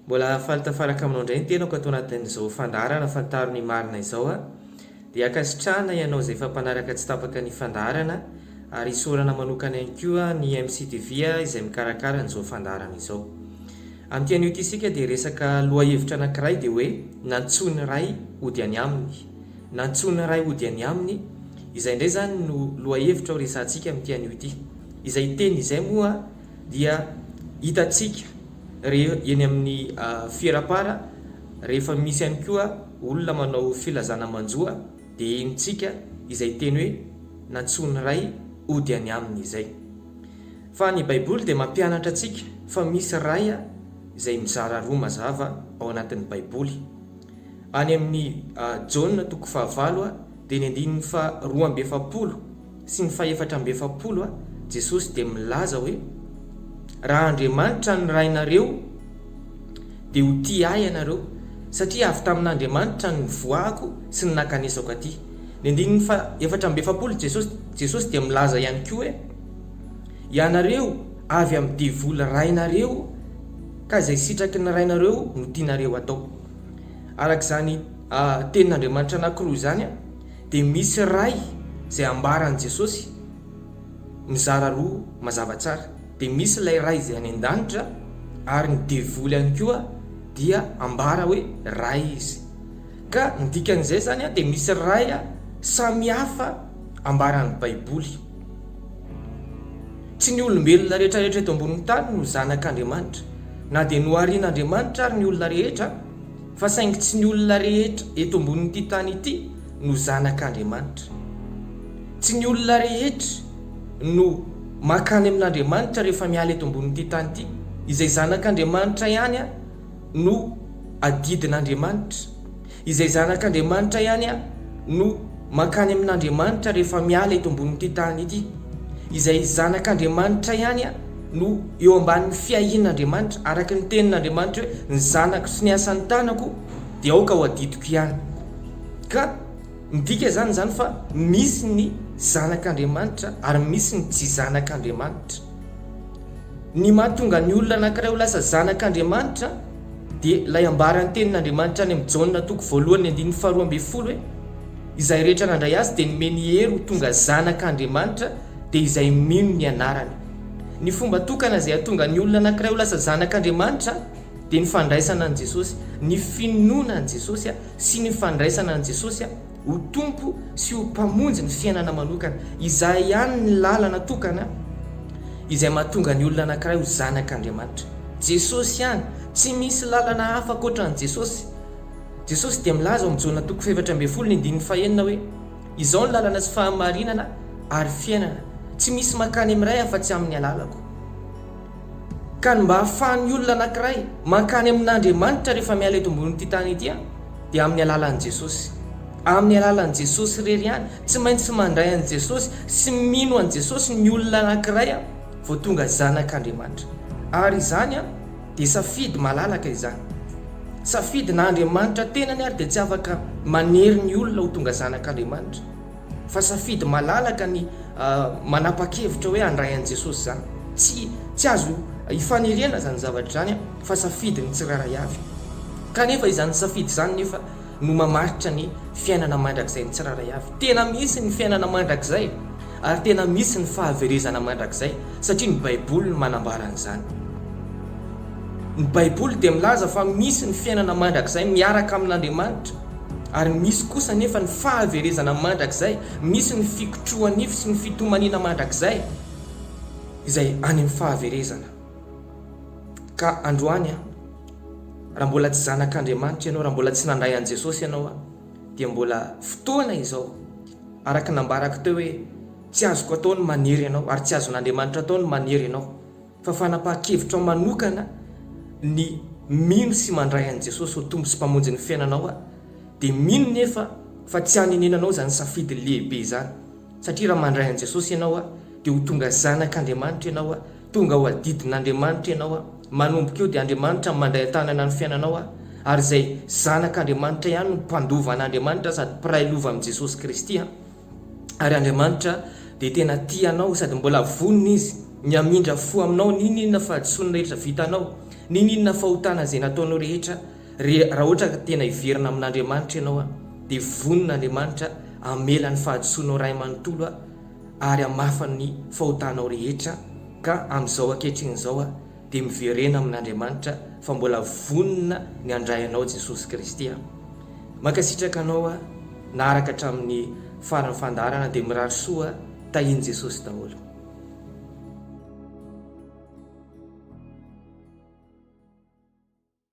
Mbola faly tafaraka aminao indray ny tenako ato anatin'izao fandaharana fantaro ny marina izao a. Dia ankasitrahana ianao izay efa mpanaraka tsy tapaka ny fandaharana ary isaorana manokana ihany koa ny MCTV izay mikarakara an'izao fandaharana izao. Amin'ity anio ity isika dia hiresaka lohahevitra anankiray dia hoe Nantsoin'ny Ray hody any Aminy. Nantsoina iray hody any aminy, izay indray izany no lohahevitra ho resahantsika amin'ity anio ity. Izay teny izay moa dia hitantsika eny amin'ny fierapara rehefa misy ihany koa olona manao filazana manjoa dia henontsika izay teny hoe nantsoiny iray hody any aminy izay. Fa ny baiboly dia mampianatra antsika fa misy Ray izay mizara roa mazava ao anatin'ny baiboly. Any amin'ny Jaona toko fahavalo dia ny andininy faharoa amby efapolo sy ny fahefatra amby efapolo, Jesosy dia milaza hoe, Raha Andriamanitra ny Rainareo, dia ho tia Ahy ianareo, satria avy tamin'Andriamanitra no nivoahako sy ny nakanesako aty. Ny andininy fahaefatra amby efapolo, Jesosy dia milaza ihany koa hoe, Ianareo avy amin'ny devoly rainareo. Ka izay sitraky ny rainareo no tianareo atao. Araka izany tenin'Andriamanitra anankiroa izany dia misy ray izay ambaran'i Jesosy mizara roa mazava tsara. Dia misy ilay ray izay any an-danitra ary ny devoly ihany koa dia ambara hoe ray izy. Ka ny dikan'izay zany dia misy ray samy hafa ambaran'ny baiboly. Tsy ny olombelona rehetrarehetra eto ambonin'ny tany no zanak'Andriamanitra, na dia noharin'Andriamanitra ary ny olona rehetra, fa saingy tsy ny olona rehetra eto ambonin'ity tany ity no zanak'Andriamanitra. Tsy ny olona rehetra no makany amin'Andriamanitra rehefa miala eto ambonin'ity tany ity. Izay zanak'Andriamanitra ihany. no adidin'Andriamanitra, izay zanak'Andriamanitra ihany no mankany amin'Andriamanitra rehefa miala eto ambonin'ity tany ity, izay zanak'Andriamanitra ihany no eo ambanin'ny fiahian'Andriamanitra, araka ny tenin'Andriamanitra hoe, Ny zanako sy ny asan'ny tanako dia aoka ho adidiko ihany. Ka midika izany izany fa misy ny zanak'Andriamanitra ary misy ny tsy zanak'Andriamanitra. Ny mahatonga ny olona anankiray ho lasa zanak' Andriamanitra dia ilay ambaran'ny tenin' Andriamanitra any amin'ny Jaona toko voalohany ny andininy faharoa ambin'ny folo hoe, Izay rehetra nandray Azy dia nomeny hery ho tonga zanak' Andriamanitra, dia izay mino ny anarany. Ny fomba tokana izay hahatonga ny olona anankiray ho lasa zanak' Andriamanitra dia ny fandraisana an'i Jesosy, ny finoana an'i Jesosy sy ny fandraisana an'i Jesosy Ho Tompo sy ho Mpamonjy ny fiainana manokana. Izay ihany ny lalana tokana izay mahatonga ny olona anankiray ho zanak' Andriamanitra. Jesosy ihany, tsy misy lalana hafa ankoatra an'i Jesosy. Jesosy dia milaza ao amin'ny Jona toko fahefatra ambin'ny folo ny andininy fahenina hoe, Izao no lalana sy fahamarinana ary fiainana, tsy misy mankany amin'ny Ray afa-tsy amin'ny alalako. Ka ny mba ahafahan'ny olona anankiray mankany amin'Andriamanitra rehefa miala eto ambonin'ity tany ity dia amin'ny alalan'i Jesosy. Amin'ny alalan'i Jesosy irery ihany. Tsy maintsy mandray an'i Jesosy sy mino an'i Jesosy ny olona anankiray vao tonga zanak'Andriamanitra. Ary izany dia safidy malalaka izany. Safidy na Andriamanitra tenany ary dia tsy afaka manery ny olona ho tonga zanak'Andriamanitra. Fa safidy malalaka ny manapa-kevitra hoe handray an'i Jesosy izany. Tsy, tsy azo ifaniriana izany zavatra izany an, fa safidin'ny tsirairay avy. Kanefa izany safidy izany nefa no mamaritra ny fiainana mandrakizain'ny tsirairay avy. Tena misy ny fiainana mandrakizay ary tena misy ny fahaverezana mandrakizay satria ny Baiboly no manambara an'izany. Ny Baiboly dia milaza fa misy ny fiainana mandrakizay miaraka amin'Andriamanitra. Ary misy kosa anefa ny fahaverezana mandrakizay, misy ny fikotrohanifo sy ny fitomaniana mandrakizay, izay any amin'ny fahaverezana. Ka androany an, raha mbola tsy zanak'Andriamanitra ianao, raha mbola tsy nandray an'i Jesosy ianao an, dia mbola fotoana izao, araka ny nambarako teo hoe, tsy azoko atao ny manery anao, ary tsy azon'Andriamanitra atao ny manery anao. Fa fanapahan-kevitrao manokana ny mino sy mandray an'i Jesosy ho Tompo sy Mpamonjin'ny fiainanao aho, dia mino nefa fa tsy hanenenanao izany safidy lehibe izany, satria raha mandray an'i Jesosy ianao aho, dia ho tonga zanak'Andriamanitra ianao aho, tonga ho adidin'Andriamanitra ianao aho, manomboka eo dia Andriamanitra no mandray an-tanana ny fiainanao aho, ary izay zanak'Andriamanitra ihany no mpandova an'Andriamanitra sady mpiray lova amin'i Jesosy Kristy aho. Ary Andriamanitra dia tena tia anao sady mbola vonona Izy ny hamindra fo aminao n'inon'inona fahadisoana rehetra vitanao, n'inon'inona fahotana izay nataonao rehetra. Raha ohatra ka tena hiverina amin'Andriamanitra ianao dia vonona Andriamanitra hamela ny fahadisoanao ray manontolo ary hamafa ny fahotanao rehetra ka amin'izao ankehitriny izao dia miverena amin'Andriamanitra fa mbola vonona ny handray anao Jesosy Kristy a! Mankasitraka anao a! Naharaka hatramin'ny faran'ny fandaharana dia mirary soa a! Tahin'i Jesosy daholo.